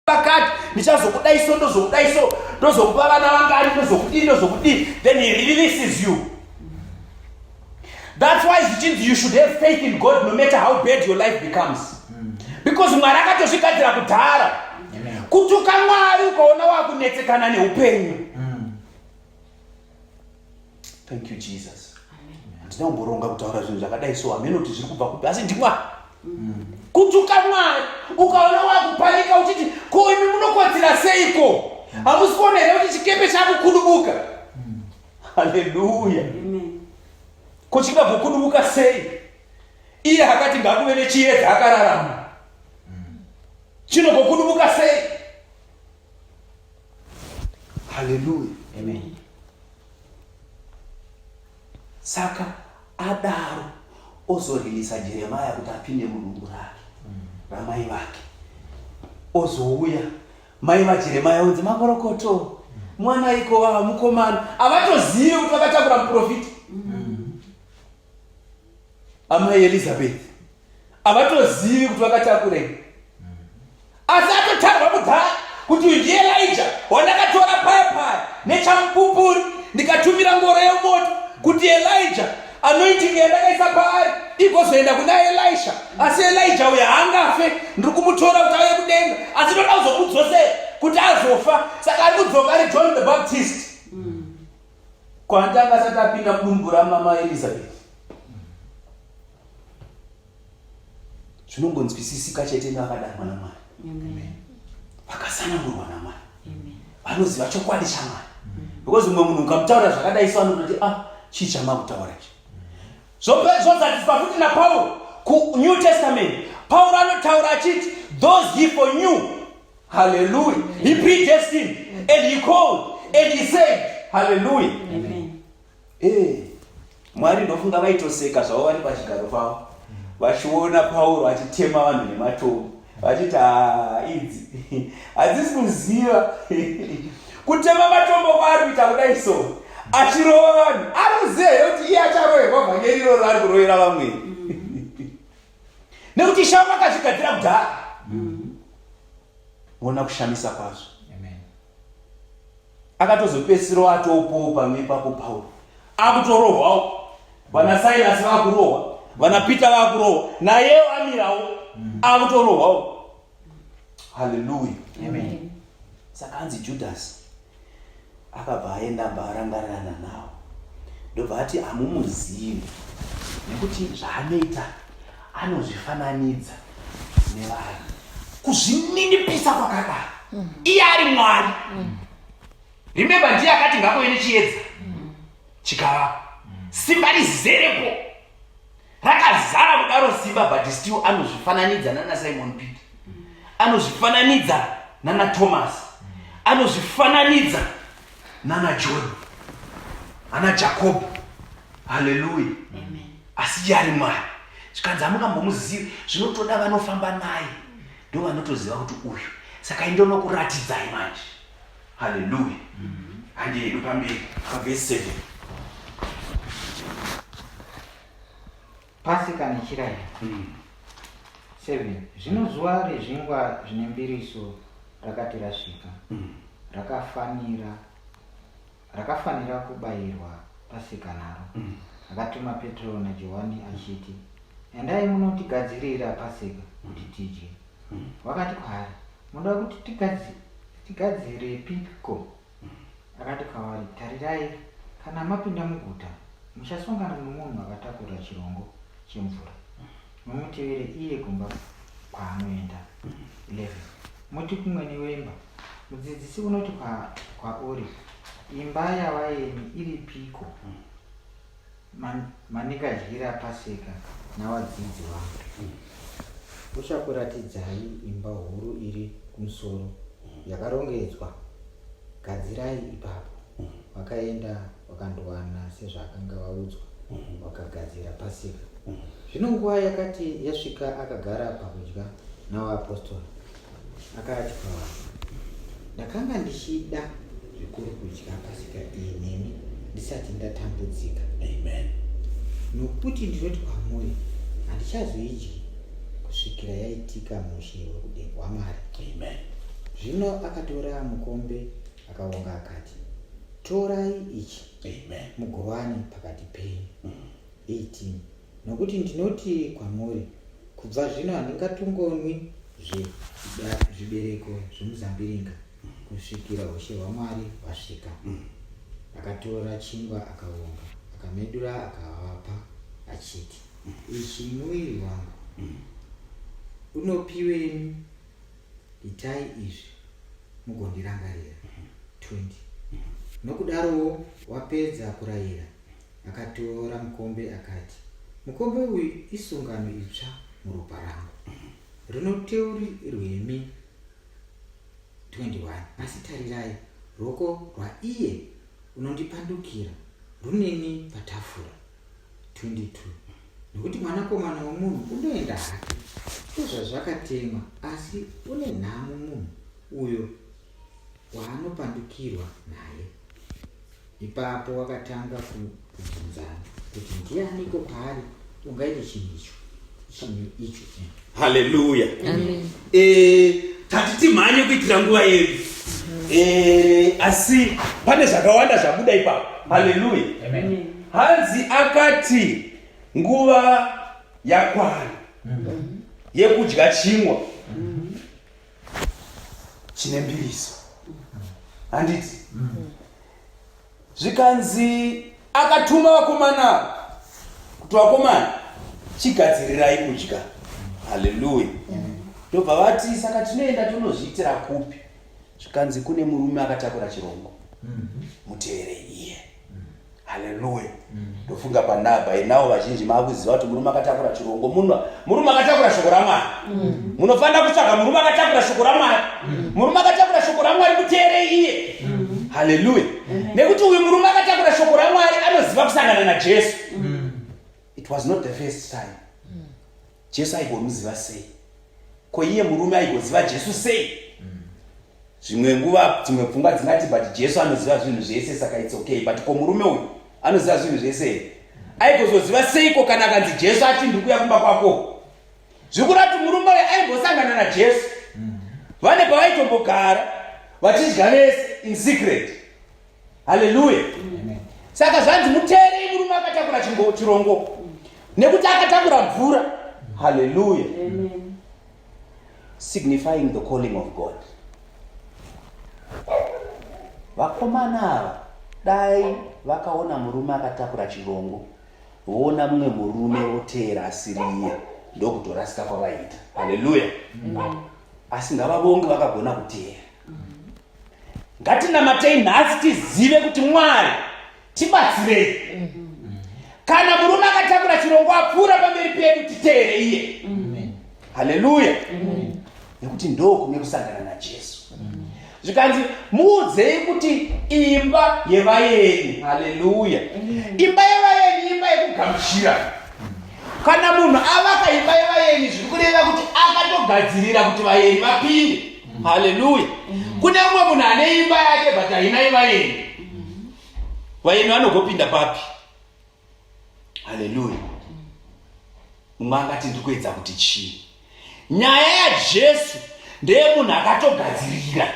pakati ndichazokudai so ndozokudai so ndozokupa vana vangani ndozokudii ndozokudii then he releases you that's why zvichinzi you should have faith in god no matter how bad your life becomes because mwari akatozvigadzira kudhara kutuka mwari ukaona wakunetsekana neupenyu thank you jesus handina kumboronga kutaura zvinhu zvakadai so hameno kuti zviri kubva kupi asi ndimwari mm. kutuka mwari ukaona wakupanika uchiti ko imi munokodzera seiko mm. hamusi kuona here kuti chikepe chakukudubuka mm. haleluya ko chingabvokudubuka sei iye akati ngakuve nechiyedza akararama chinogokudubuka sei haleluya amen saka adaro ozorilisa jeremaya kuti apinde mudumbu rake mm. ramai vake ozouya mai vajeremaya onzi makorokoto mwana iko vava mukomana havatozivi kuti vakatakura muprofita amai elizabeth havatozivi kuti vakatakurei asi atotarwa kudhara kuti uyu ndiye elija wandakatora paya paya nechamupupuri ndikatumira ngoro yemoto kuti elija anoitinga yandakaisa paari igozoenda kuna elisha asi elija uyo haangafe ndiri kumutora kuti auye kudenga asi ndoda kuzomudzosera kuti azofa saka ari kudzoka ari john the baptist mm. Kwanta akasati apinda mudumbu ramama Elizabeth. Zvinongonzwisisika chete neakadamwa naMwari. Amen. Vakasanangurwa naMwari. Amen. Vanoziva chokwadi chaMwari. Because mumwe munhu ukamutaura zvakadai so anototi ah chii chamakutaura ichi. Zvozatiswa futi naPauro kuNew Testament. Pauro anotaura achiti those he for new Hallelujah. He predestined and he called and he saved. Hallelujah. Amen. Eh. Mwari ndofunga vaitoseka zvavo vari pachigaro pavo. Vachiona Pauro achitema vanhu nematombo. Vachiti ah, idzi hadzisi kuziva kutema matombo kwaari kuita kudai so achirova vanhu anoziva here kuti iye acharoverwa vhangeri iroro ari kurovera vamweni nekuti ishe vangu akazvigadzira kudhara mm-hmm. ona kushamisa kwazvo akatozopesiro atopowo pamwe ipapo pauro akutorohwawo vana sairasi vakurohwa vana peter vakurohwa nayewo amirawo mm-hmm. akutorohwawo haleluya saka anzi judhasi akabva aenda mba arangarirana nawo ndobva ati hamumuzivi nekuti zvaanoita anozvifananidza nevanhu kuzvininipisa kwakadaro mm. iye ari mwari mm. remembe ndiye akati ngakove nechiedza mm. chikava simba rizerepo rakazara kudaro simba but still anozvifananidza nana simon peter anozvifananidza nana thomas anozvifananidza nana john ana jakobo haleluya asi iye ari mwari zvikanzi hamungambomuzivi zvinotoda vanofamba naye ndo vanotoziva kuti uyu saka indonokuratidzai manje Haleluya. Handi hedu pamberi pavhesi 7. Pasika nechirayi. Mm. 7. Zvino zuva rezvingwa zvine mbiriso rakati rasvika. Mm. Rakafanira rakafanira kubayirwa pasika naro. Mm. Akatuma Petro naJohani achiti, Endai munotigadzirira pasika kuti tidye. mm. wakati kwaari munoda kuti tigadzire tigadzirepi ko akati kwavari tarirai kana mapinda muguta muchasongana nomunhu akatakura chirongo chemvura mumutevere iye kumba kwaanoenda 11 muti kumwene wemba mudzidzisi unoti kwauri imba yavaeni iripiko Man, manika dyira paseka navadzidzi vangu mm. uchakuratidzai imba huru iri kumusoro mm. yakarongedzwa gadzirai ipapo mm. vakaenda vakandowana sezvaakanga vaudzwa mm. vakagadzira paseka mm. zvino nguva yakati yasvika akagara pakudya navaapostori akadya ndakanga ndichida zvikuru kudya pasika iyi neni ndisati ndatambudzika amen nokuti ndinoti kwamuri handichazoidyi kusvikira yaitika mushe wekudenga wamwari amen zvino akatora mukombe akaonga akati torai ichi amen mugovani pakati penyu 18 mm. Nokuti ndinoti kwamuri, kubva zvino handingatongonwi zvibereko zvemuzambiringa kusvikira ushe hwaMwari hwasvika. Mm. Akatora chingwa akavonga, akamedura akavapa achiti, mm. ichi muviri wangu mm. unopiweni, itai izvi mugondirangarira. 20 nokudarowo wapedza kurayira akatora mukombe akati, Mukombe uyu isungano itsva muropa rangu. Rinoteuri rwemi 21 asi tarirai, ruoko rwaiye unondipandukira runeni patafura 22 nokuti mwanakomana womunhu unoenda hake ndozvazvakatemwa asi une nhamo munhu uyo waanopandukirwa naye. Ipapo wakatanga kubvunzana kuti ndianiko kwaari ungaite chinhu icho chinhu icho eh. haleluya eh, tati timhanye kuitira nguva yedu eh, asi pane zvakawanda zvabuda ipapo haleluya hanzi akati nguva yakwana mm-hmm. yekudya chingwa mm-hmm. chine mbiriso handiti zvikanzi akatuma vakomana kuti vakomana chigadzirirai kudya haleluya ndobva vati saka tinoenda tonozviitira kupi zvikanzi kune murume akatakura chirongo muteerei haleluya ndofunga panaba inawo vazhinji maakuziva kuti murume akatakura chirongo muno murume akatakura shoko ramwari munofanira kutsvaga murume akatakura shoko ramwari murume akatakura shoko ramwari muteere iye haleluya nekuti uyu murume akatakura shoko ramwari anoziva kusangana najesu it was not the first time Jesu aigomuziva sei? Ko iye murume aigoziva Jesu sei? Mm. Zvimwe nguva dzimwe pfungwa dzingati but Jesu anoziva zvinhu zvese saka it's okay but ko murume uyu anoziva zvinhu zvese here? Mm. Aigozoziva seiko kana akanzi Jesu ati ndiri kuya kumba kwako? Zvikura kuti murume uyu aigosangana naJesu. Mm. Vane pavaitombogara vachidya vese in secret. haleluya saka zvanzi muteerei murume akatakura chirongo nekuti akatakura mvura haleluya signifying the calling of god vakomana ava dai vakaona murume akatakura chirongo voona mumwe murume voteera asiri iye ndokutorasika kwavaiita haleluya asi ngavavonge vakagona kuteera ngatinamatei nhasi tizive kuti mwari tibatsirei kana murume akatakura chirongo apfuura pamberi pedu titeere iye haleluya nekuti ndo kune kusangana najesu zvikanzi muudzei kuti imba yevaeni haleluya imba yevaeni imba yekugamuchira kana munhu avaka imba yevaeni zviri kureva kuti akatogadzirira kuti vaeni vapinde mm. haleluya mm. kune mumwe munhu ane imba yake but hainai vaeni mm. vaeni vanogopinda papi haleluya mumwe mm. angati ndiri kuedza kuti chii nyaya yajesu ndeye munhu akatogadzirira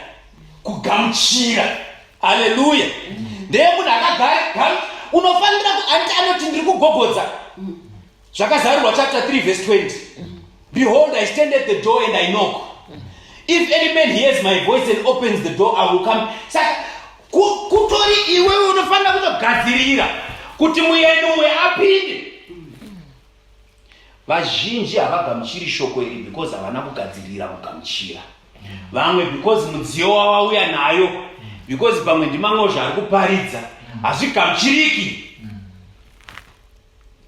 kugamuchira haleluya mm. ndeye munhu akagara unofanira anti anoti ndiri kugogodza mm. zvakazarurwa chapter 3 verse 20 behold i stand at the door and i knock if any man hears my voice and opens the door i will come saka kutori iwewe unofanira kutogadzirira kuti mueni uwe apinde vazhinji havagamuchiri shoko iri because havana kugadzirira kugamuchira vamwe because mudziyo wavauya nayo because pamwe ndimamwe zvaari kuparidza hazvigamuchiriki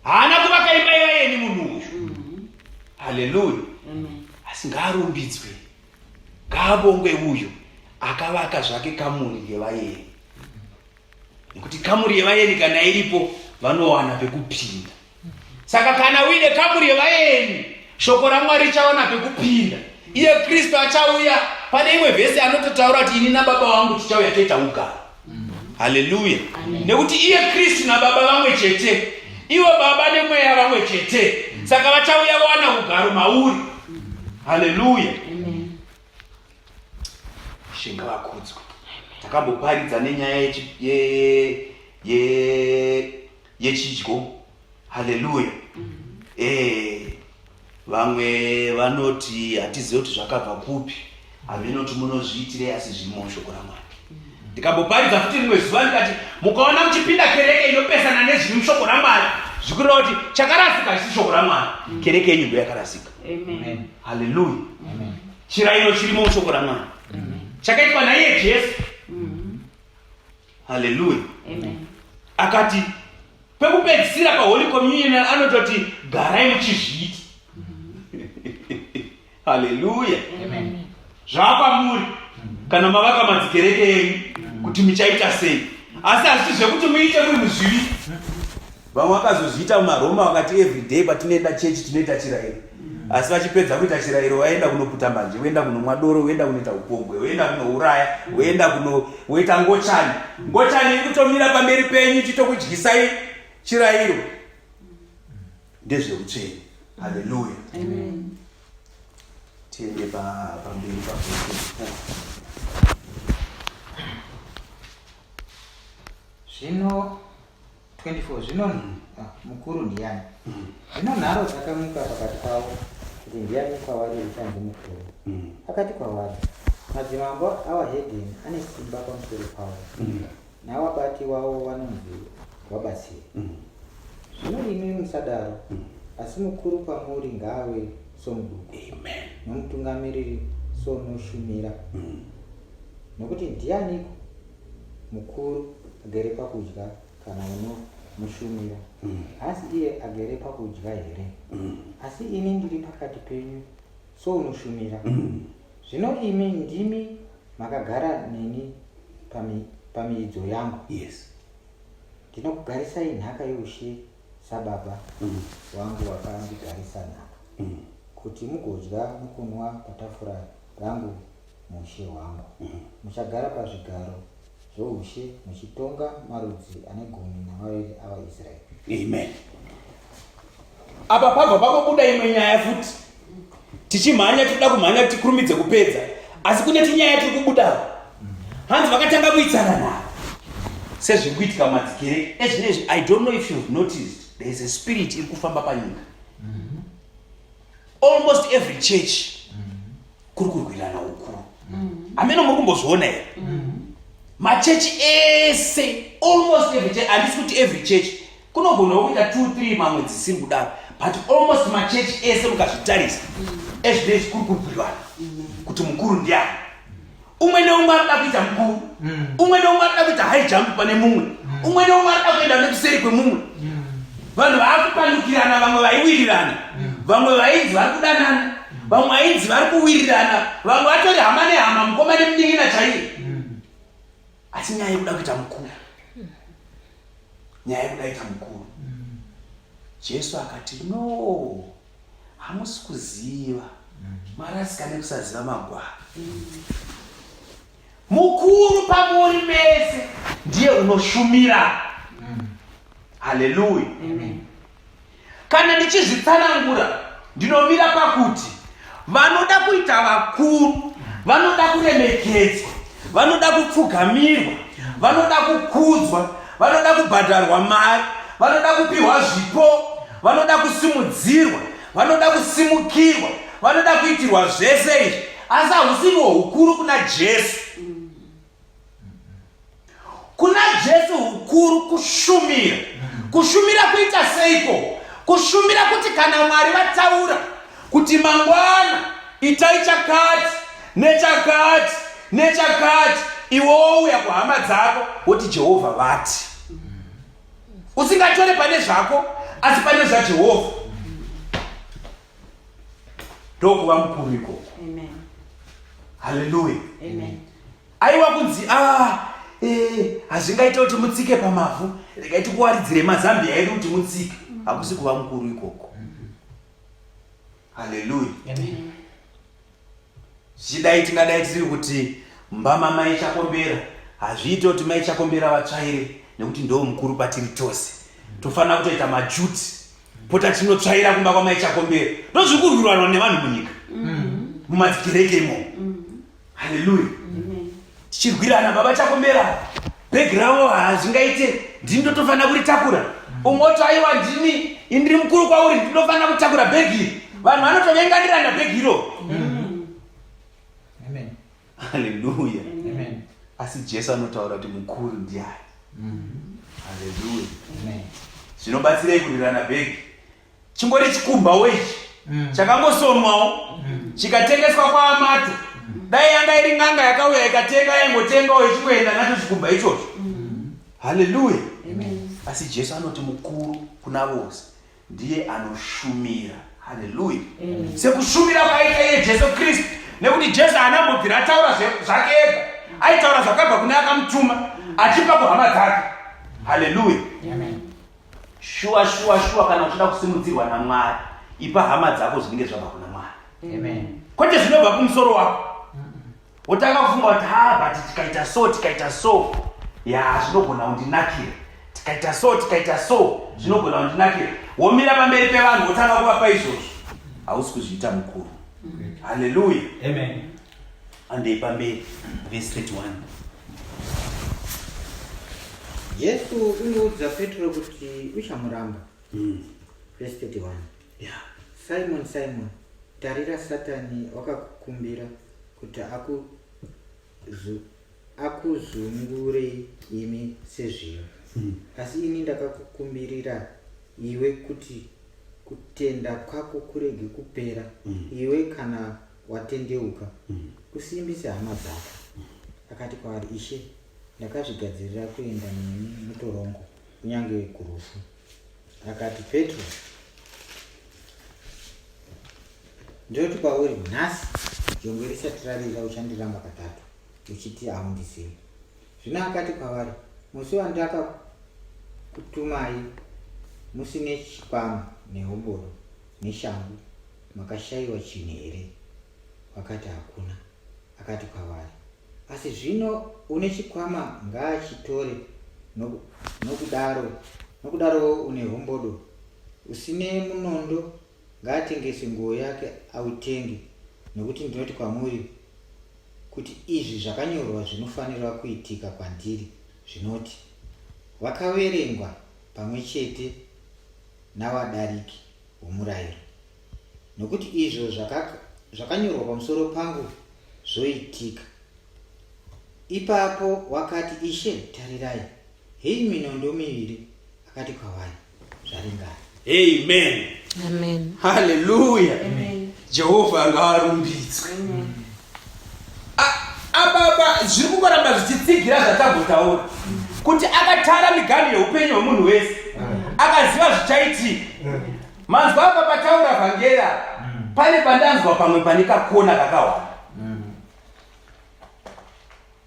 haana kuvaka imba yevayeni munhu uyu mm-hmm. haleluya asi ngaarumbidzwe ngaabongwe uyu akavaka zvake kamuri yevayeni nekuti kamuri yevayeni kana iripo vanowana pekupinda saka kana uine kamuri yevayeni shoko ramwari richawana pekupinda iye kristu achauya pane imwe vhesi anototaura kuti ini nababa vangu tichauya toita ugaro haleluya nekuti iye kristu nababa vamwe chete ivo baba nemweya vamwe chete saka vachauya wana ugaro mauri haleluya shinga vakudzwa takamboparidza nenyaya yechidyo haleluya eh vamwe vanoti hatizive kuti zvakabva kupi hameno kuti munozviitirei asi zvirimo mushoko ramwari ndikamboparidza futi rimwe zuva ndikati mukaona muchipinda kereke inopesana nezviri mushoko ramwari zvikureva kuti chakarasika chisi shoko ramwari kereke yenyu ndo yakarasika haleluya chirayiro chirimo mushoko ramwari chakaitwa naiye jesu haleluya akati pekupedzisira paholy communion anototi garai muchizviita haleluya zvaapamuri kana mavaka madzikereke enyu kuti muchaita sei asi hazviti zvekuti muite munhu zvivi Vamwe vakazozviita mumaRoma vakati everyday patinoenda chechi tinoita chirairo. Asi vachipedza kuita chirairo waenda kunoputa mbanje, woenda kunomwa doro, woenda kunoita upombwe, woenda kunouraya, woenda kuno woita ngochani. Ngochani ikutomira pamberi penyu ichitokudyisai chirairo. Ndezveutsvene. Hallelujah. Amen. Tiende pa pamberi pa Zvino 24 zvino ah, mukuru ndiyani mm. zvino nharo dzakamuka pakati pavo kuti ndiyani kwavari uchanzi mukuru mm. akati kwavari madzimambo awa hedeni ane simba pamusoro pavo mm. nawabati wavo wanonzi wabatsiri zvino imi musadaro asi mukuru kwamuri ngaave somuduku nomutungamiriri sonoshumira nokuti ndiyaniko Mukuru agere pakudya kana unomushumira mm. asi iye agere pakudya here mm. asi ini ndiri pakati penyu sounoshumira mm. zvino mm. imi ndimi makagara neni pamiidzo pami yangu yes ndinokugarisai nhaka youshe sababa mm. wangu wakandigarisa nhaka mm. kuti mugodya mukunwa patafura rangu Mushe wangu. Muchagara pazvigaro zvoushe muchitonga marudzi ane gumi namaviri avaIsraeri. Amen. Apa pabva pakobuda imwe nyaya futi. Tichimhanya tikuda kumhanya kuti tikurumidze kupedza. Asi kune tinyaya tiri kubuda. Hanzi vakatanga kuitsana na. Sezviri kuitika madzikere ezvinezvi I don't know if you've noticed there is a spirit iri kufamba panyika. almost every church kuri kurwirana ukuru hameno muri kumbozviona here machechi ese almost every church handisi kuti every church kunogona kuita two three mamwe dzisiri kudaro but almost machechi ese mukazvitarisa ezvinei zvikuri kurwirana kuti mukuru ndiani umwe neumwe anoda kuita mukuru mm. umwe neumwe anoda kuita high jump pane mumwe mm. umwe neumwe anoda kuenda nekuseri kwemumwe mm. vanhu vaakupandukirana vamwe vaiwirirana vamwe vainzi vari kudanana vamwe vainzi vari kuwirirana vamwe vatori hama nehama mukoma nemunin'ina chaiye asi nyaya yekuda kuita mukuru nyaya yekuda kuita mukuru jesu akati no hamusi kuziva marasika nekusaziva magwaro mukuru pamuri mese ndiye unoshumira haleluya kana ndichizvitsanangura ndinomira pakuti vanoda kuita vakuru vanoda kuremekedzwa vanoda kupfugamirwa vanoda kukudzwa vanoda kubhadharwa mari vanoda kupiwa zvipo vanoda kusimudzirwa vanoda kusimukirwa vanoda kuitirwa zvese izvi asi hausiriwo ukuru kuna jesu kuna jesu ukuru kushumira kushumira kuita seiko kushumira kuti kana mwari vataura kuti mangwana itai chakati nechakati nechakati iwe wouya kuhama dzako woti jehovha vati usingatore pane zvako asi pane zvajehovha ndokuva mukuru ikoko haleluya aiwa kunzi a ah, eh, hazvingaita kuti mutsike pamavhu regai tikuwaridzire mazambi aedu kuti mutsike hakusi kuva mukuru ikoko haleluya zvichidai tingadai tisiri kuti mbama mai chakombera hazviite kuti mai chakombera vatsvaire nekuti ndo mukuru patiri tose tofanira kutoita majuti pota tinotsvaira kumba kwamai chakombera ndozvikurwirwanwa nevanhu munyika mm. mumakereke imomo haleluya tichirwirana baba chakomera bhegi ravo hazvingaite ndini ndotofanira kuritakura umwe oto aiwa ndini indiri mukuru kwauri ndinofanira kutakura bhegi iri vanhu vanotovenganirana bhegi iro haleluya asi jesu anotaura kuti mukuru ndiani haleluya zvinobatsirei kurirana bhegi chingori chikumbawo ichi mm. chakangosonwawo mm. chikatengeswa kwaamato mm. dai yanga iri n'anga yakauya ikatenga yaingotengawo ichingoenda nacho chikumba ichocho haleluya asi jesu anoti mukuru kuna vose ndiye anoshumira haleluya sekushumira kwaita iye jesu kristu nekuti jesu haana mbobvira ataura zvake ega aitaura zvakabva kune akamutuma achipa kuhama dzake haleluya shuwa shuwa shuwa kana uchida kusimudzirwa namwari ipa hama dzako zvinenge zvabva kuna mwari kwete zvinobva kumusoro wako wotanga kufunga kuti ha but tikaita so tikaita so ya zvinogona kundinakira tikaita so tikaita so zvinogona kundinakira womira pamberi pevanhu wotanga kuvapa izvozvo hausi kuzviita mukuru haleluya Andei pamberi vesi 31 Jesu unoudza Petro kuti uchamuramba. Mm. Vesi 31 yeah. Simon Simon tarira Satani wakakukumbira kuti aku akuzungurei imi sezviyo mm. asi ini ndakakukumbirira iwe kuti kutenda kwako kurege kupera mm. iwe kana watendeuka mm. usimbise hama dzako mm. akati kwaari ishe ndakazvigadzirira kuenda nemi mutorongo kunyange kurufu akati petro ndinoti kwauri nhasi jongwe risati rarira uchandiramba katatu uchiti haundizivi zvino akati kwavari musi wandakakutumai musine chikwama nehoboro neshangu Makashaiwa chinhu here? Vakati, Hakuna. Akati kwavari, Asi zvino une chikwama ngaachitore, nokudaro nokudarowo une hombodo. Usine munondo ngaatengese nguo yake autenge, nokuti ndinoti kwamuri kuti izvi zvakanyorwa zvinofanira kuitika kwandiri zvinoti vakaverengwa pamwe chete navadariki hwomurayiro, nokuti izvo zvakanyorwa pamusoro pangu zvoitika. Ipapo wakati, Ishe, tarirai, heyi minondo miviri, akati kwavari, zvaringana. Amen. Amen. Hallelujah. Amen. jehovha ngaarumbidzwe apapa zviri kungoramba zvichitsigira zvatambotaura kuti akatara miganhu yeupenyu hwemunhu wese akaziva zvichaitika manzwa apa pataura vhangera pane pandanzwa pamwe pane kakona kakawanda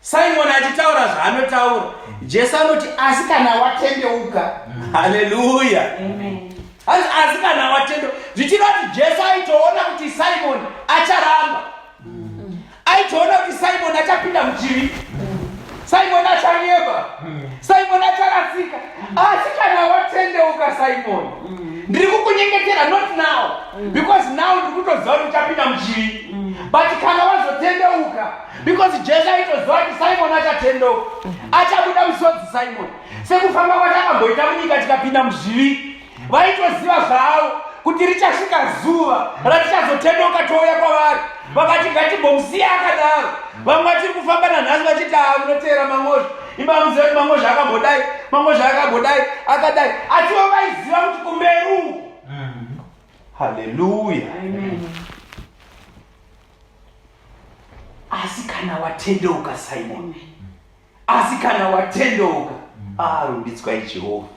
Simon achitaura zvaanotaura, Jesu anoti asi kana watendeuka. Mm. Haleluya. Amen. Hanzi asi kana watendo zvichireva kuti Jesu aitoona kuti Simon acharamba. Mm. Aitoona kuti Simon achapinda muchivi. Mm. Simon achanyeba. Mm. Simon acharasika. Mm. Asi kana watendeuka Simon. Mm. Ndiri kukunyengetera not now mm. because now ndiri kutoziva kuti uchapinda muchivi. Mm. But kana wazotendeuka because jesu aitoziva kuti simoni achatendeuka achabuda musodzi simoni sekufamba kwati akamboita munyika tikapinda muzvivi vaitoziva zvavo kuti richasvika zuva ratichazotendeuka touya kwavari vakati ngatibhomusiya akadaro vamwe vachiri kufamba nanhasi vachiti aa munoteera mangozha ibamuziva kuti mangozha akambodai mangozha akambodai akadai asivo vaiziva kuti kumeru haleluya asi kana watendeuka simon asi kana watendeuka arumbidzwai ah, jehovha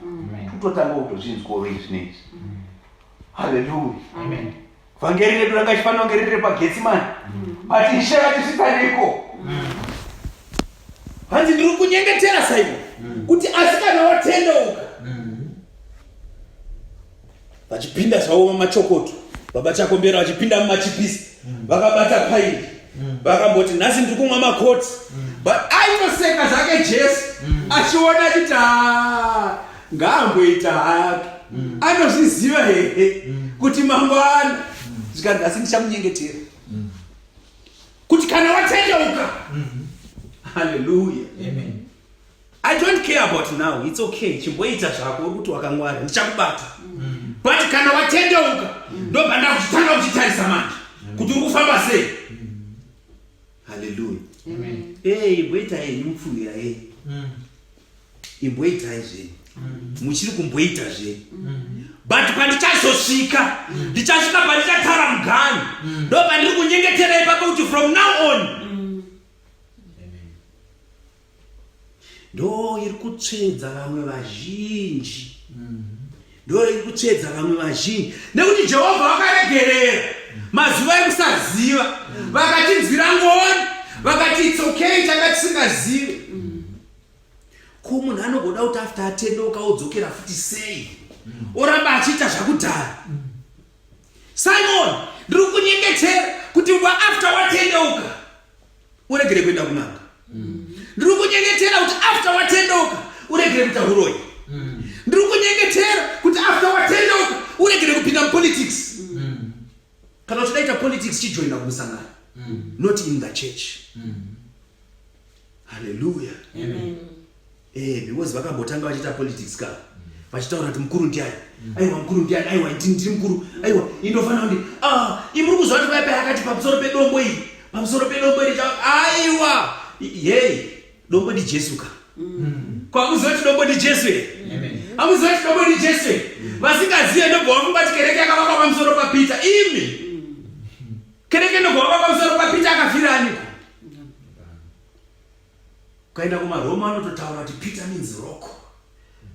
kutotanga kutozvinzwawo izvi neizvi haleluya vhangeri redu ranga chifanira kunge riri repagetsimani but ishe vatisvitaniko hanzi ndiri kunyengetera simon kuti asi kana watendeuka vachipinda zvavo mamachokoto baba chakombera vachipinda mumachipisi vakabata paini vakamboti nhasi ndiri kumwa makoti but aitoseka zvake jesu achiona achiti ha ngaamboita hake anozviziva here kuti mangwana zvikanzi asi ndichamunyengetera kuti kana watendeuka haleluya amen I don't care about now it's okay chimboita zvako uri kuti wakangwara ndichakubata mm. but kana watendeuka mm. ndobva ndakutanga kuchitarisa manje mm. kuti uri kufamba sei haleluya ee imboita enyu mupfuhira e imboitai zvenyu muchiri kumboita zvenyu but pandichazosvika ndichasvika pandichatara mugani ndobva ndiri kunyengeterai pako kuti from now on ndo iri kutsvedza vamwe vazhinji ndo iri kutsvedza vamwe vazhinji nekuti jehovha vakaregerera mazuva ekusaziva vakatinzwira ngoni vakati its okay tanga tisingazivi ko munhu anogoda kuti after atendeuka odzokera futi sei oramba achiita zvakudhara simon ndiri kunyengetera kuti after watendeuka uregere kuenda kunanga mm. ndiri kunyengetera kuti after watendeuka uregere kuita uroyi mm. ndiri kunyengetera kuti after watendeuka uregere kupinda mupolitics mm. kana uchidaita politics chijoina kumusangano not in the church haleluya Eh, because vakambotanga vachiita politics ka vachitaura kuti mukuru ndiani aiwa mukuru ndiani aiwa ndi- ndiri mukuru aiwa indofanira kuti ah imuri kuziva kuti baibai akati pamusoro pedombo iri pamusoro pedombo iri cha- aiwa I- yei dombo ndi jesu ka kwamuziva kuti dombo ndi jesu here amuziva kuti dombo ndi jesu here vasingazive ndobva vafunga kuti kereke yakavakwa pamusoro papita imi kereke ndobva vavakwa pamusoro papita akafira aniko Ukaenda kumaroma anototaura kuti peter means rock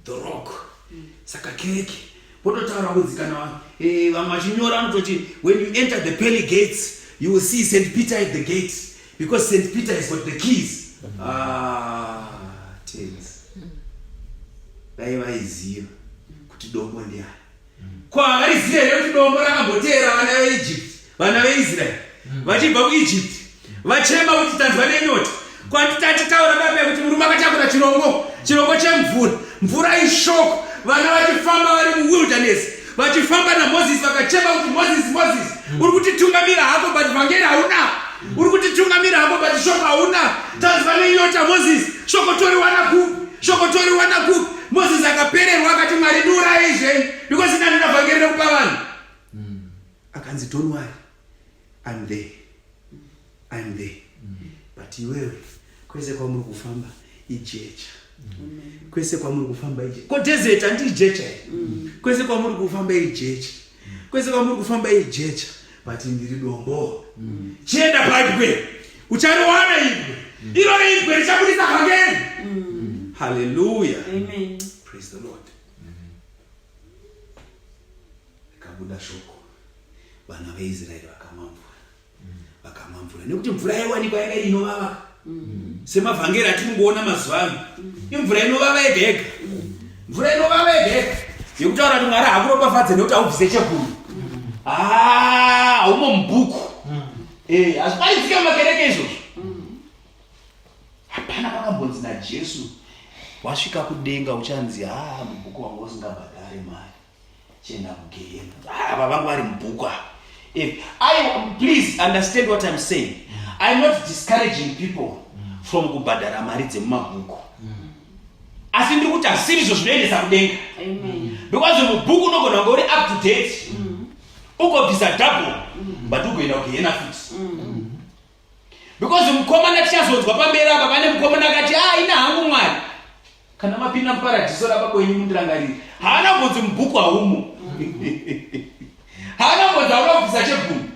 the rock mm. saka kereke vototaura kunzi kana eh, vamwe vachinyora anototi when you enter the pearly gates you will see st peter at the gate because st peter has got the keys mm. ah, tens dai vaiziva kuti dombo ndiani Ko havaiziva here kuti dombo rakamboteera vana veEgypt, vana veIsrael mm. vachibva kuEgypt vachema kuti tanzwa nenyota kwatitati taura baba kuti murume akatakura chirongo chirongo chemvura mvura ishoko vana vachifamba vari muwilderness vachifamba namozisi vakachema kuti mozisi mozisi mm. uri kutitungamira hako but vhangeri hauna uri kutitungamira hako but shoko hauna tanzwa nenyota mozisi shoko toriwana kupi shoko toriwana kupi Moses akapererwa akati Mwari ndiuraye zvenyu because ndani ndavhangeri rekupa vanhu. Mm. Akanzi don't worry. I'm there. I'm there. Mm. But iwewe kwese kwamuri kufamba ijecha. Mm. Kwese kwamuri kufamba ijecha. Ko desert anti ijecha. Mm. Kwese kwamuri kufamba ijecha. kwese kwamuri kufamba iyi jecha but ndiri dombo mm. chienda paibwe uchariwana ibwe mm. iro ibwe richabudisa kangeni mm. haleluya praise the lord rikabuda shoko vana veisraeri vakamamvura vakamwa mvura nekuti mvura yaiwanikwa yanga inovava mm. semavhangeri atinongoona mazuva ano mm. imvura inovava yega yega mm. mvura inovava yega yega yekutaura kuti mwari hakuropafadze nekuti aubvise cheguru haumo ah, mubhuku eh, hazvipaizike mumakereke izvozvo hapana pakambonzi najesu wasvika kudenga uchanzi haa ah, mubhuku wanga usingabhadhare mari Chenda kugehena. Ah, baba vangu vari mubhuku apa. If I please understand what I'm saying. I'm not discouraging people from kubhadhara mari dzemumabhuku. Asi ndiri kuti asiri izvo zvinoendesa kudenga. Amen. Because mubhuku unogona kunge uri up to date. Ugobvisa double but ugoenda kugehena futi. because mukomana tichazonzwa pamberi apa pane mukomana akati a ah, ina hangu mwari kana mapinda muparadhiso rababwenyu mundirangariri haana mbonzi mubhuku haumo haana mbonzi hauna kubvisa chebhunu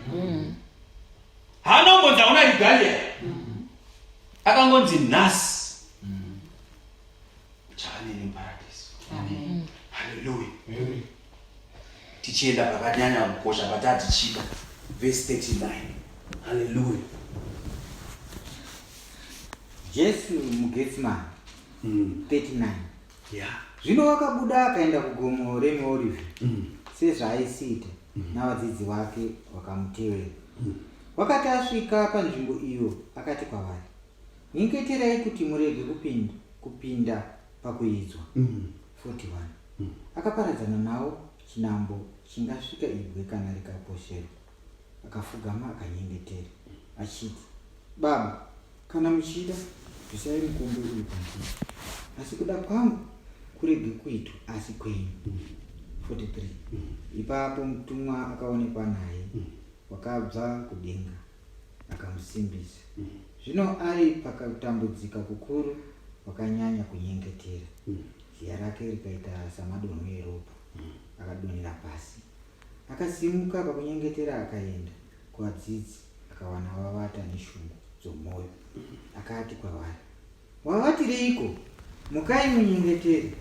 haana mbonzi hauna rigalia akangonzi nhasi chaaneni muparadhiso haleluya tichienda pakanyanya kukosha patatichida vhesi 39 haleluya jesu mugetsimani mm. 39 yeah. zvino wakabuda akaenda kugomo remeorive mm. sezvaaisiita mm. navadzidzi vake vakamutevera mm. wakati asvika panzvimbo iyo akati kwavari nyengeterai kuti murege kupinda, kupinda pakuidzwa mm. 41 akaparadzana nawo chinambo chingasvika ibwe kana rikaposherwa akafugama akanyengetera achiti baba kana muchida bvisai mukombe uyu pandiri asi kuda kwangu kurege kuitwa asi kwenyu 43 ipapo mutumwa akaonekwa naye wakabva kudenga akamusimbisa zvino ari pakatambudzika kukuru wakanyanya kunyengetera ziya rake rikaita samadonho eropa akadonhera pasi akasimuka pakunyengetera akaenda kuvadzidzi akawana vavata neshungu dzomwoyo akati kwavari Wavatireiko? Mukai munyengetere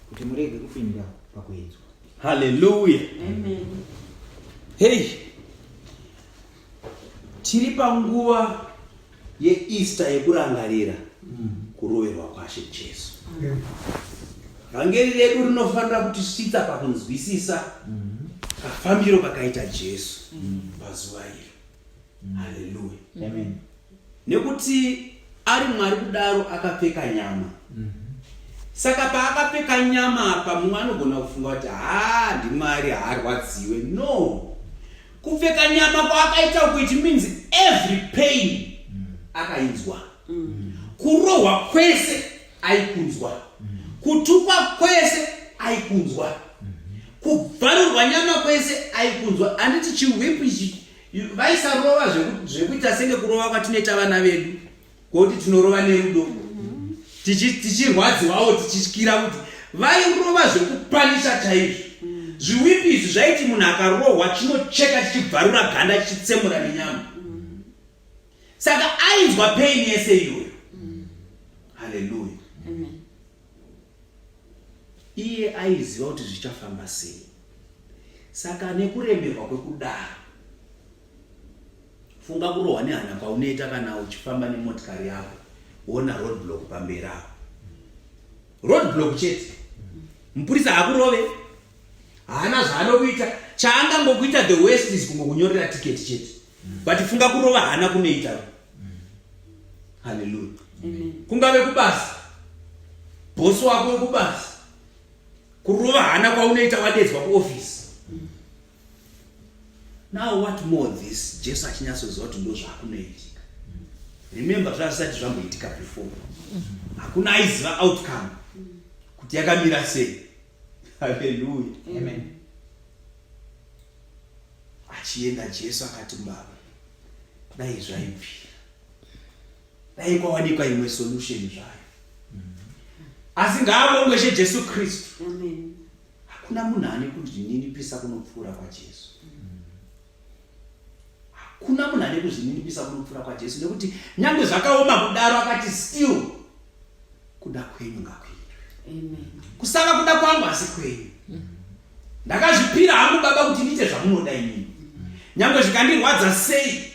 kuti murege kupinda pakuedzwa. Haleluya. Amen. Hey. Tiri panguva yeEaster yekurangarira mm. kuroverwa kwaShe Jesu. Amen. Vhangeri redu rinofanira kutisvitsa pakunzwisisa mm. kafambiro kakaita Jesu mm. pazuva iri. haleluya amen nekuti ari mwari kudaro akapfeka nyama mhm. saka paakapfeka nyama apa mumwe anogona kufunga kuti haa ndimwari haarwadziwe no kupfeka nyama kwaakaita uku it means every pain mm. akainzwa mm. kurohwa kwese aikunzwa kutukwa kwese aikunzwa kubvarurwa nyama kwese aikunzwa handiti chiwip ichi vaisarova zvekuita senge kurova kwatinoita vana vedu koti tinorova nerudo tichirwadziwawo tichityira kuti vairova zvekupanisha chaizvo zviwipi izvi zvaiti munhu akarohwa chinocheka chichibvarura ganda chichitsemura nenyama saka ainzwa pain yese iyoyo haleluya iye aiziva kuti zvichafamba sei saka nekuremerwa kwekudaro funga kurohwa nehana kwaunoita kana uchifamba nemotikari yako wona roadblock pamberi apo roadblock chete mupurisa hakurove haana zvaanokuita chaangangokuita the west is kungokunyorera tiketi chete but funga kurova hana kunoita haleluya kungave kubasa bosi wako wekubasa kurova hana kwaunoita wadedzwa kuofisi now what more this jesu achinyatsoziva kuti ndo zvaakunoitika remember zvazvisati zvamboitika before hakuna aiziva outcome kuti yakamira sei haleluya Achienda Jesu akati mbavha, dai zvaibvira, dai kwawanikwa imwe solution zvayo. Asi ngaabongweshe Jesu Kristu. Hakuna munhu ane kuzvininipisa kunopfuura kwaJesu. Hakuna munhu ane kuzvininipisa kunopfuura kwaJesu nekuti nyange zvakaoma kudaro akati still kuda kwenyu ngakuitwe kusava kuda kwangu asi kwenyu ndakazvipira hangu baba kuti ndiite zvamunoda inini nyange zvikandirwadza sei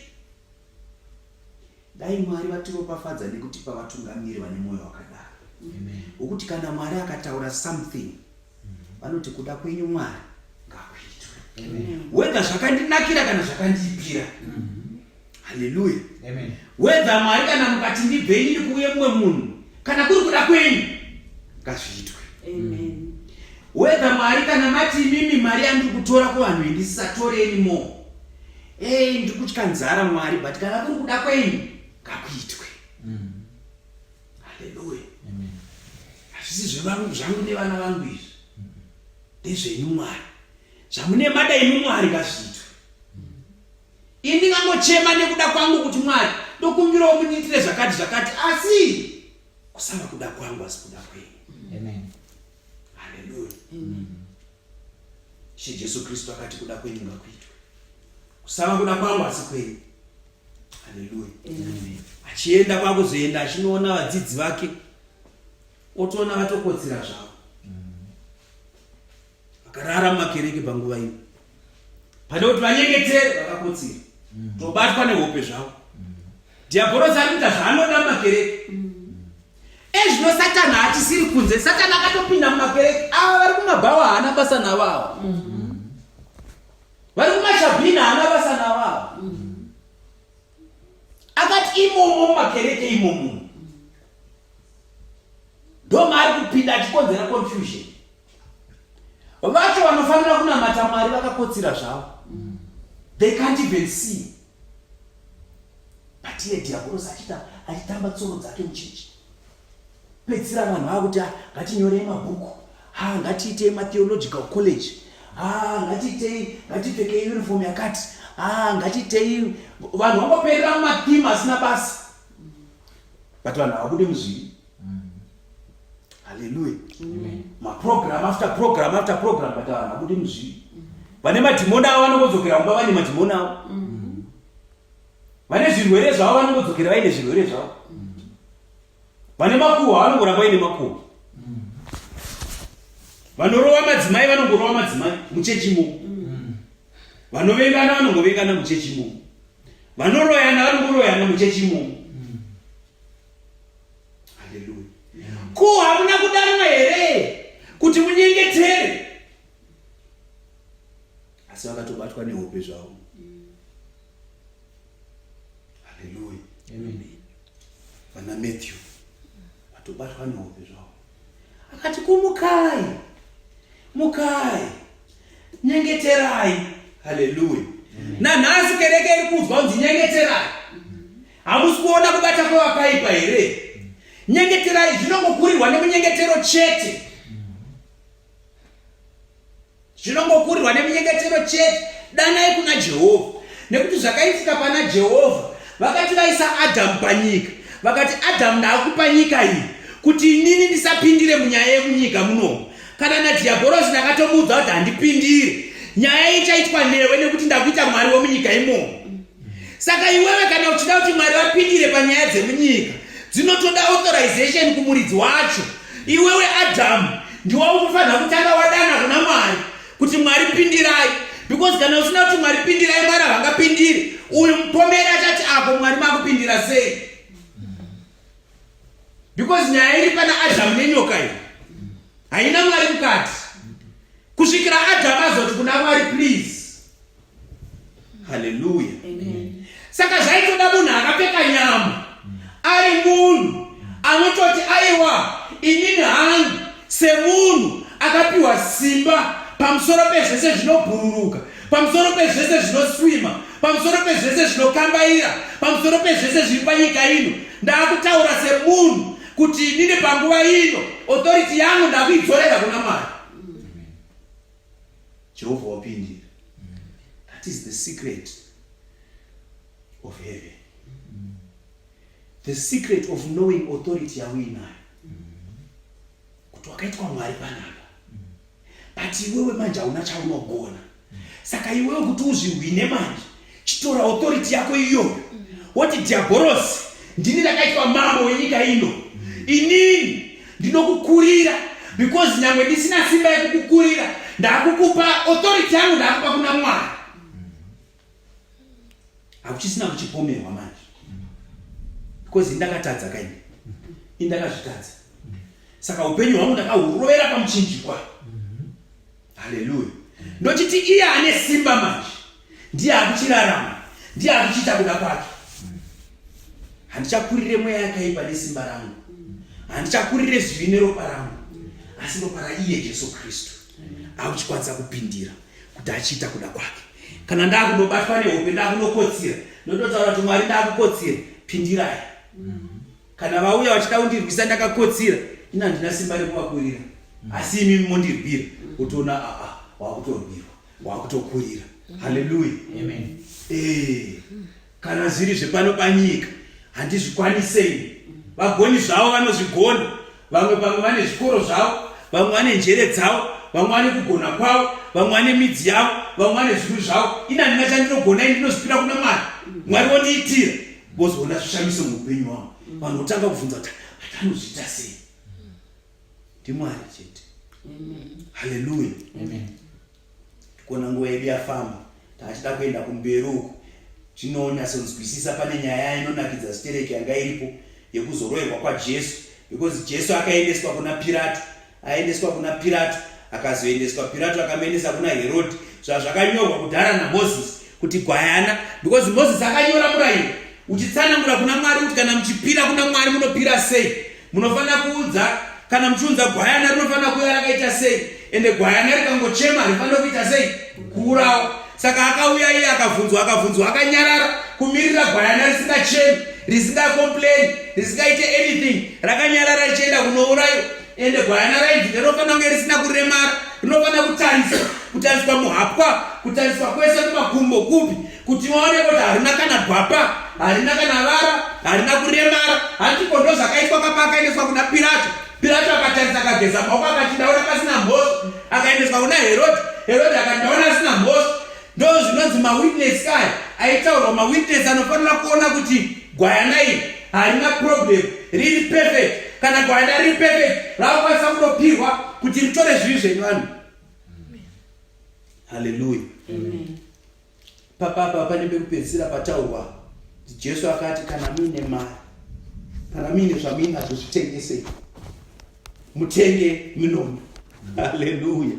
dai mwari vatiropafadza nekutipa vatungamiri vane mwoyo wakadaro wokuti kana mwari akataura something vanoti kuda kwenyu mwari ngakuitwe wedha zvakandinakira kana zvakandiipira haleluya wedha mwari kana mukati ndibve inini kuuye mumwe munhu kana kuri kuda kwenyu ngazviitwe wedha mwari kana mati imimi mari yandiri kutora kuvanhu indisisatoreni mo ei ndiri kutya nzara mwari but kana kuri kuda kwenyu ngakuitwe mm. Haleluya. Amen. Hazvisi zvevangu zvangu nevana vangu izvi. Ndezvenyu Mwari. Zvamune mada imi Mwari ngazviitwe. Ini ndingangochema nekuda kwangu kuti Mwari ndokumbirawo mundiitire zvakati zvakati asi kusava kuda kwangu asi kuda kwenyu. Amen. Haleluya. Amen. She Jesu Kristu akati kuda kwenyu ngakuitwe. Kusava kuda kwangu asi kwenyu. achienda kwakuzoenda achinoona vadzidzi vake otoona vatokotsira zvavo vakarara mumakereke panguva ino pane kuti vanyengetere vakakotsira mm. tobatwa nehope zvavo mm. dhiabhorosi ari kuita zvaanoda mumakereke mm. ezvino satani hatisiri kunze satani akatopinda mumakereke ava vari kumabhawa haana basa navo ava vari kumashabhina haana basa navo ava akati imomo mumakereke imomo ndo maari kupinda achikonzera confusion vacho vanofanira kunamata mwari vakakotsira zvavo they can't even see but iye dhiabhorosi achita achitamba tsoro dzake muchechi pedzisira vanhu vava kuti ah, ngatinyorei mabhuku ha ah, ngatiitei matheological college ha ah, ngatiitei ngatipfekei uniform yakati ha ngatiitei vanhu vangoperera mumatheme asina basa but vanhu havabude muzvii halleluya maprogram after program after program but vanhu havabude muzvii vane madhimoni avo vanongodzokera kumba vane madhimoni avo mm-hmm. vane zvirwere zvavo vanongodzokera vaine zvirwere zvavo vane makuhwa vanongoramba ine makuhwa vanorova madzimai vanongorova madzimai muchechi imomo vanovengana vanongovengana muchechi imomo vanoroyana vanongoroyana muchechi imomo haleluya ko hamuna kudanwa here kuti munyengetere asi vakatobatwa nehope zvavo Haleluya. Amen. Vana Matthew vatobatwa nehope zvavo. Akati kumukai. Mukai. Nyengeterai. Haleluya. Nanhasi kereke iri kunzwa kunzi nyengeterai. Hamusi kuona kubata kwevakaipa here? Nyengeterai zvinongokurirwa nemunyengetero chete. zvinongokurirwa neminyengetero chete danai kuna jehovha nekuti zvakaitika pana jehovha vakati vaisa adhamu panyika vakati adhamu ndaakupa nyika iyi kuti inini ndisapindire munyaya yemunyika munomu kana nadhiyabhorosi ndakatomuudza kuti handipindire nyaya ichaitwa newe nekuti ndakuita mwari wemunyika imomo saka iwewe kana uchida kuti mwari vapindire panyaya dzemunyika dzinotoda authorization kumuridzi wacho iwewe adhamu ndiwa ukufanira kutanga wadana kuna mwari kuti mwari pindirai because kana usina kuti mwari pindirai mwari havangapindire uyu mupomeri achati apo mwari makupindira sei because nyaya iri pana adhamu nenyoka iyi haina mwari mukati kusvikira adhamu azoti kuna mwari please Haleluya. Saka zvaitoda munhu akapfeka nyama ari munhu anototi aiwa inini hangu semunhu akapiwa simba pamusoro pezvese zvinobhururuka pamusoro pezvese zvinoswima pamusoro pezvese zvinokambaira pamusoro pezvese zviri panyika ino ndaakutaura semunhu kuti inini panguva ino authority yangu ndakuidzorera kuna mwari Jehovha wapindira. Mm. That is the secret of heaven. Mm. The secret of knowing authority yauinayo. Mm. Kuti wakaitwa Mwari panapa. Mm. But iwewe manje hauna chaunogona. Mm. Saka iwewe kuti uzvihwine manje chitora authority yako iyoyo woti dhiabhorosi ndini ndakaitwa mambo wenyika ino inini ndinokukurira because nyangwe ndisina simba yekukukurira ndakukupa authority yangu ndakupa kuna mwari hakuchisina kuchipomerwa manje because indakatadza kaini indakazvitadza saka upenyu hwangu ndakahurovera pamuchinjikwa haleluya ndochiti iye ane simba manje ndiye akuchirarama ndiye akuchiita kuda kwake handichakurire mweya yakaipa nesimba rangu handichakurire zvivi neropa rangu asi ropa raiye jesu kristu akuchikwanisa kupindira kuti achiita kuda kwake kana ndakunobatwa nehope ndakunokotsira ndototaura kuti mwari ndakukotsira pindirai kana vauya vachida kundirwisa ndakakotsira ini handina simba rekuvakurira mm. asi imi mondirwira mm. utoona aa ah, ah, wakutorwirwa wakutokurira mm. haleluya eh, kana zviri zvepano panyika handizvikwanisei vagoni zvavo vanozvigona vamwe pamwe vane zvikoro zvavo vamwe vane njere dzavo vamwe vane kugona kwavo vamwe vane midzi yavo vamwe vane zvinhu zvavo ini handina chandinogona ini ndinozvipira kuna mwari mwari wondiitira vozoona zvishamiso muupenyu wavo mm. vanhu votanga kubvunza kuti hati anozviita sei mm. ndimwari chete haleluya tikuona nguva yedu yafamba taachida kuenda kumberi uku tinonyatsonzwisisa pane nyaya inonakidza zitereki yanga iripo yekuzoroerwa kwajesu because jesu akaendeswa kuna pirato Aendeswa kuna Pirato, akazoendeswa Pirato akamenesa kuna Herodi, zvazvakanyorwa kudhara naMozisi kuti gwayana, because Mozisi akanyora murayiro uchitsanangura kuna Mwari kuti kana muchipira kuna Mwari munopira sei, munofanira kuudza kana muchiunza gwayana rinofanira kuya rakaita sei, ende gwayana rikangochema rifanira kuita sei, kuurawa. saka akauya iye akabvunzwa akabvunzwa akanyarara kumirira gwayana risingachemi risingakomplaini risingaite anything rakanyarara richienda kunourayo ende gwayana rainzi ndinofanira kunge risina kuremara rinofanira kutarisa kutariswa muhapwa kutariswa kwese kumakumbo kupi kuti vaone kuti harina kana gwapa harina kana vara harina kuremara handipo ndozvakaitwa kapakaendeswa kuna pirato Pirato akatarisa akageza maoko akati ndaona pasina mhosva akaendeswa kuna Herode Herode akati ndaona asina mhosva ndo zvinonzi mawitness kaya aitaurwa mawitness anofanira kuona kuti gwayana iri harina problem riri perfect kana gwayana riri perfect rakukwanisa kunopihwa kuti ritore zvivi zvenyu vanhu haleluya Papapa pane pekupedzisira pataurwa Jesu akati kana muine mari kana muine zvamuinazvo zvitengesei mutenge minona haleluya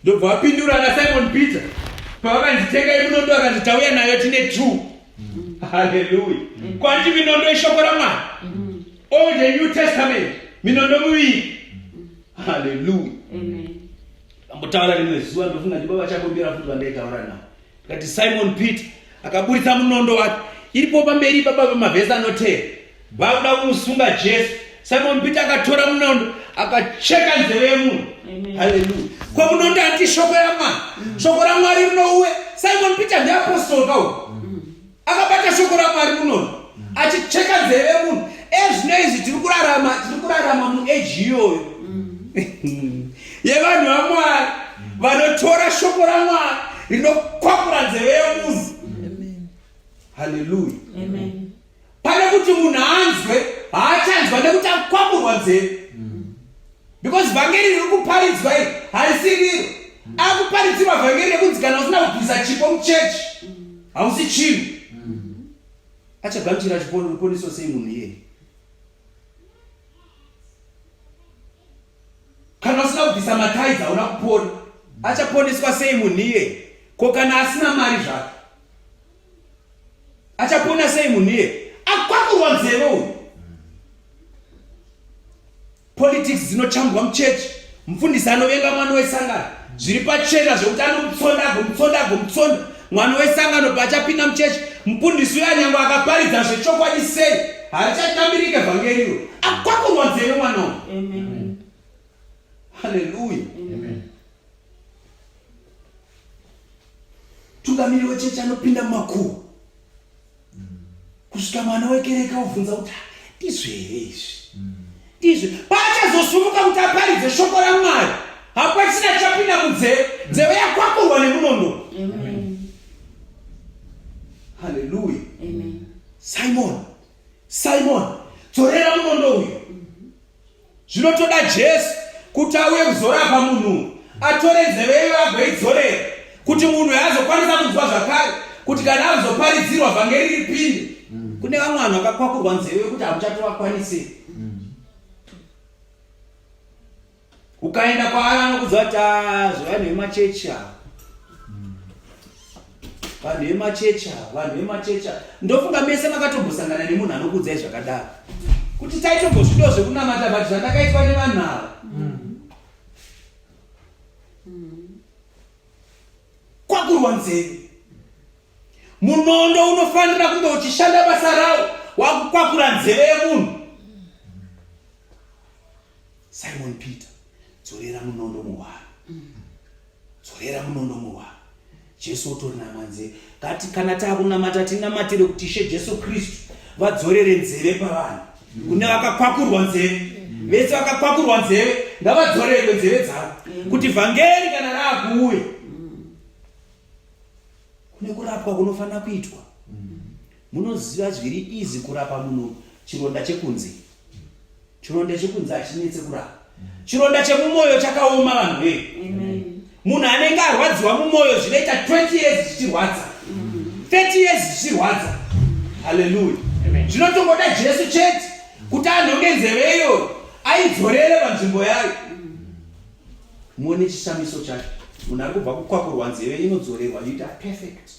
ndobva vapindura nasimon peter pavakanzitenga iminondo akanzi tauya nayo tine two mm. haleluya mm. kwanti minondo ishoko ramwari mm. all the new testament minondo miviri haleluya Ndambotaura rimwe zuva ndofunga ndibaba chakombera futi vandaitaura navo ndikati Simon Peter akaburitsa munondo wake iripo pamberi baba vemavhesi anoteera bauda kumusunga Jesu Simon Peter akatora munondo akacheka nzeve yemunhu haleluya ko munondo ati shoko yamwari shoko ramwari rinouwe Simon Peter ndiapostol kawo akabata shoko ramwari munono achicheka nzeve munhu ezvino eh, izvi tiri kurarama tiri kurarama mueji iyoyo mm. yevanhu vamwari vanotora shoko ramwari rinokwakura nzeve yemunhu haleluya pane kuti munhu anzwe haachanzwa nekuti akwakurwa nzeve because vhangeri riri kuparidzwa iri harisi riro akuparidzirwa vhangeri rekunzi kana usina kubvisa chipo muchechi hausi chinhu achagamuchira chiponiswa sei munhu iyeye kana usina kubvisa mataizi hauna kupona achaponeswa sei munhu iyeye ko kana asina mari zvake achapona sei munhu iyeye akwakurwa nzeve uyu Politics dzinochambwa muchechi. Mfundisi anovenga mwana wesangano. Zviri pachena zvekuti anomutsonda agomutsonda agomutsonda. Mwana wesangano paachapinda muchechi, mfundisi uya nyangwe akaparidza zvechokwadi sei, harichatambirike vhangeri iro. Akwakurwa nzeve mwana uyu. Amen. Hallelujah. Amen. Tungamiri wechechi anopinda mumakuwa. kusvika mwana wekereke obvunza kuti ndizvo here izvi ndizvo paachazosumuka kuti aparidze shoko ramwari hapasina chapinda munzeve nzeve yakwakurwa nemunondo haleluya simon simon dzorera munondo uyu zvinotoda jesu kuti auye kuzorapa munhu atore nzeve iyo agoidzorera kuti munhu azokwanisa kunzwa zvakare kuti kana azoparidzirwa vhangeri ripinde mm. kune vamwe vanhu vakakwakurwa nzeve yekuti hamuchatovakwanise mm. ukaenda kwaari anokudza kuti ah, zvevanhu vemachechi ava vanhu vemachechi ava vanhu vemachechi ava ndofunga mese makatombosangana nemunhu anokuudzai zvakadaro kuti taitombozvido zvekunamata but zvandakaitwa nevanhu ava kwakurwa nzeve Munondo unofanira kunge uchishanda basa rawo wakukwakura nzeve yemunhu. Simon Peter, dzorera munondo muhwaro. Dzorera munondo muhwaro. Jesu otori namanzeve. Kati kana takunamata tinamatire kuti Ishe Jesu Kristu vadzorere nzeve pavanhu. Kune vakakwakurwa nzeve. Vese vakakwakurwa nzeve ngavadzorerwe nzeve dzavo kuti vhangeri kana raakuuya kune kurapwa kunofanira kuitwa mm. munoziva zviri izi kurapa munhu chironda chekunze chironda chekunze hachinetse kurapa mm. chironda chemumwoyo chakaoma vanhu vee munhu anenge arwadziwa mumwoyo zvinoita 20 years zvichirwadza 30 mm. years zvichirwadza haleluya zvinotongoda jesu chete kuti anhonge nzeve iyoyo aidzorere panzvimbo yayo muone chishamiso chacho munhu ari kubva kukwakurwa nzeve inodzorerwa yuta perfect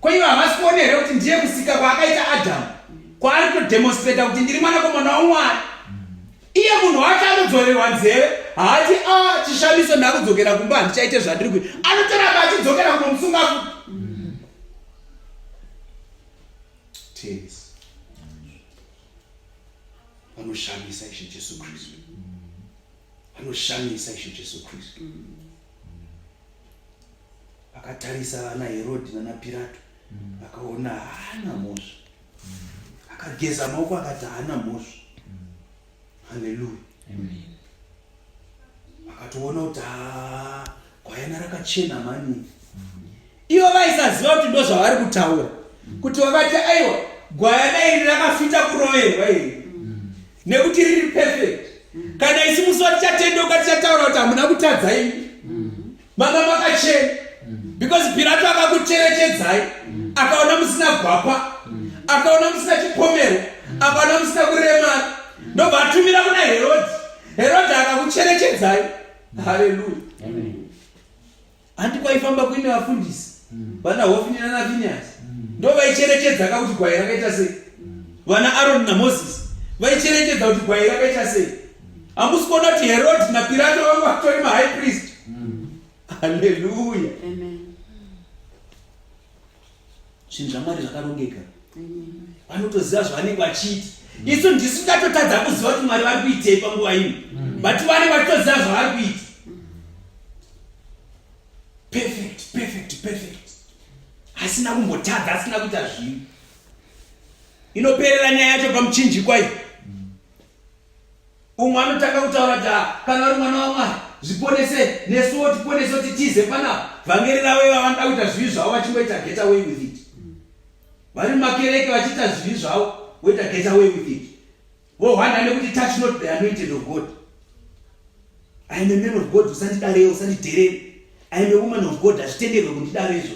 kwaiva havasi kuona here kuti ndiye musika kwaakaita adamu kwaari kutodemonstrata kuti ndiri mwanakomana wamwari iye munhu wacho anodzorerwa nzeve haati a ah, chishamiso ndakudzokera kumba handichaite zvandiri kui anotoramba achidzokera kunomusunga ku Tears. vanoshamisa ishe jesu kristu vanoshamisa ishe jesu kristu vakatarisa vana herodi nana pirato vakaona haana mhosva akageza maoko akati haana mhosva haleluya akatoona kuti haa gwayana rakachena mani Ivo vaisaziva kuti ndozvavari kutaura kuti vakati aiwa gwayana iri rakafita kuroverwa iri nekuti riri perfect kana isi musi vatichatendeuka tichataura kuti hamuna kutadza imi mama makachena because pirato akakucherechedzai akaona musina gwapa akaona musina chipomero akaona musina kuremara ndobva atumira kuna herodhi herodhi akakucherechedzai haleluya Handi kwaifamba kuine vafundisi mm. vana Hofini nana Finehasi mm. ndo vaicherechedza ka kuti gwai rakaita sei mm. vana Aroni na Moses vaicherechedza kuti gwai rakaita sei hamusi kuona kuti Herod na Pirato vanga vatori ma high priest mm. Hallelujah Amen zvinhu zvamwari zvakarongeka vanotoziva zvavanenge vachiita mm. isu ndisu tatotadza kuziva kuti mwari vari kuitei panguva ino mm. but vanenge vachitoziva zvavari kuita perfect perfect perfect asina kumbotadza asina kuita zvinhu inoperera nyaya yacho pamuchinjikwa iyi umwe anotanga kutaura kuti ah, kana uri mwana wamwari zviponese nesuwo tiponese kuti tize panapa vhangeri ravo iva vanoda kuita zvivi zvavo vachingoita get away with it vari mumakereke vachiita zvivi zvavo voita get away with it vohwanda nekuti touch not the anointed of god iam a man of god usandidareo usandidherere iam a woman of god hazvitenderwe kundidarezvo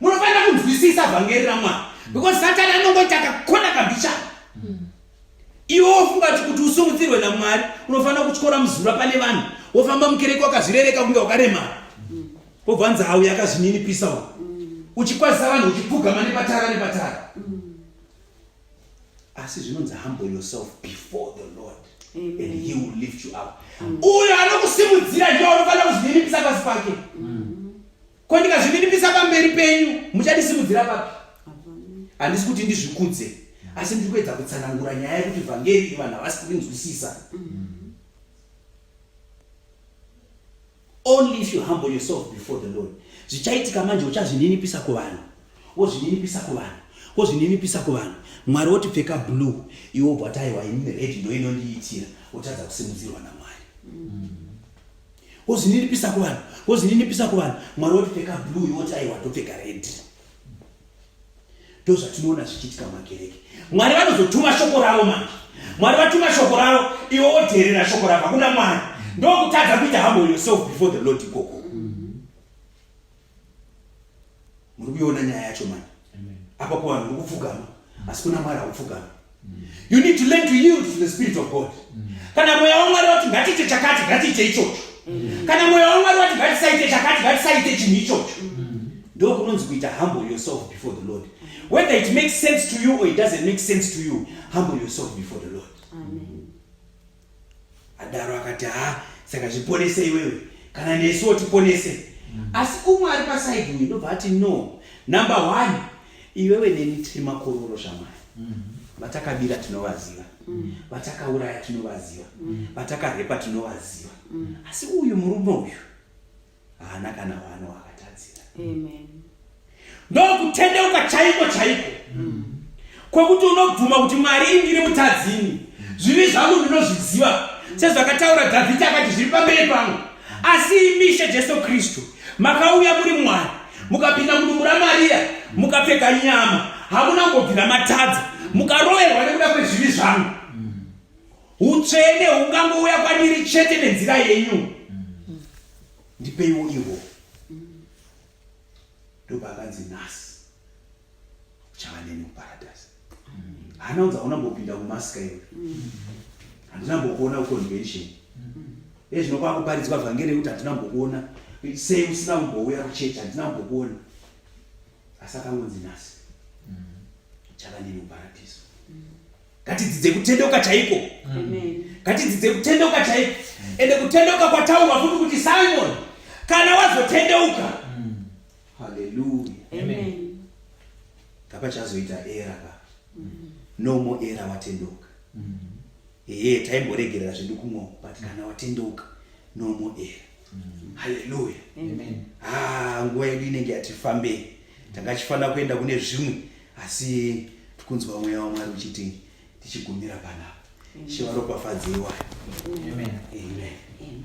munofanira kunzwisisa vhangeri ramwari because satani anongoita kakona kabhicha iwe wofunga kuti kuti usumutsirwe namwari unofanira kutyora muzura pane vanhu wofamba mukereke wakazvirereka kunge wakaremara wobva nzi hauya akazvininipisa u uchikwazisa vanhu uchipfugama nepatara nepatara asi zvinonzi humble yourself before the lord Amen. and he will lift you up uyo anokusimudzira ndiwo anofanira kuzvininipisa pasi pake ko ndikazvininipisa pamberi penyu muchandisimudzira papi handisi kuti ndizvikudze asi ndiri kuedza kutsanangura nyaya yekuti vhangeri vanhu havasi kurinzwisisa Only if you humble yourself before the Lord. Zvichaitika manje uchazvininipisa kuvanhu. Wozvininipisa kuvanhu. Wozvininipisa kuvanhu. Mwari woti pfeka blue. Iwo bwatai wa in red ndo inondiitira. Utadza kusimudzirwa na Mwari. Mm. Wozvininipisa kuvanhu. Wozvininipisa kuvanhu. Mwari woti pfeka blue iwo tai wa topfeka red. Mm. ndozvatinoona zvichiitika mumakereke mwari vanozotuma shoko ravo manje mwari vatuma shoko ravo iwe wodheerera shoko ravo hakuna mwari ndokutadza kuita hambo yourself before the lord ikoko muri kuiona nyaya yacho manje apa kuvanhu uri kupfugama asi kuna mwari haupfugama you need to learn to yield to the spirit of god kana mweya wamwari wati ngatiite chakati ngatiite ichocho kana mweya wamwari wati ngatisaite chakati ngatisaite chinhu ichocho ndo kunonzi kuita humble yourself before the lord whether it makes sense to you or it doesn't make sense to you humble yourself before the lord Amen. adaro akati haa saka zviponese iwewe kana nesu wotiponese mm. asi umwe ari pasaidi uyu ndobva ati no number one iwewe neni tiri makororo zvamai mm. vatakabira tinovaziva mm. vatakauraya tinovaziva vatakarepa tinovaziva asi uyu murume uyu haana kana wano wakatadzira ndokutendeuka chaiko chaiko mm. kwekuti unobvuma kuti mwari indiri mutadzini zvivi zvangu ndinozviziva sezvakataura dhavhidhi akati zviri pamberi pangu asi imishe jesu kristu makauya muri mwari mukapinda mudumbu ramariya mukapfeka nyama hamuna ngobvira matadza mukaroverwa nekuda kwezvivi zvangu Utsvene hungangouya kwandiri chete nenzira yenyu. Ndipeiwo ihwo. Ndobva akanzi nhasi uchava neni kuparadise. Hana unza hauna mbopinda kumasika iwe. Handina mbokuona kuconvention. Iye zvino kwakuparidzwa vhangeri yekuti handina mbokuona sei usina kumbouya kuchechi handina mbokuona. Asi akangonzi nhasi uchava neni kuparadise. ngatidzidze kutendeuka chaiko ngatidzidze kutendeuka chaiko ende kutendeuka kwataurwa futi kuti simon kana wazotendeuka haleluya ngapachazoita era ka no more era watendeuka ehe taimboregerera zvedu kumwa but kana watendeuka no more era haleluya ha ah, nguva yedu inenge yatifambei tanga chifanira kuenda kune zvimwe asi tikunzwa mweya wamwari uchiti tichigumira panapa shivaropafadzeiwa amen, amen. amen. amen.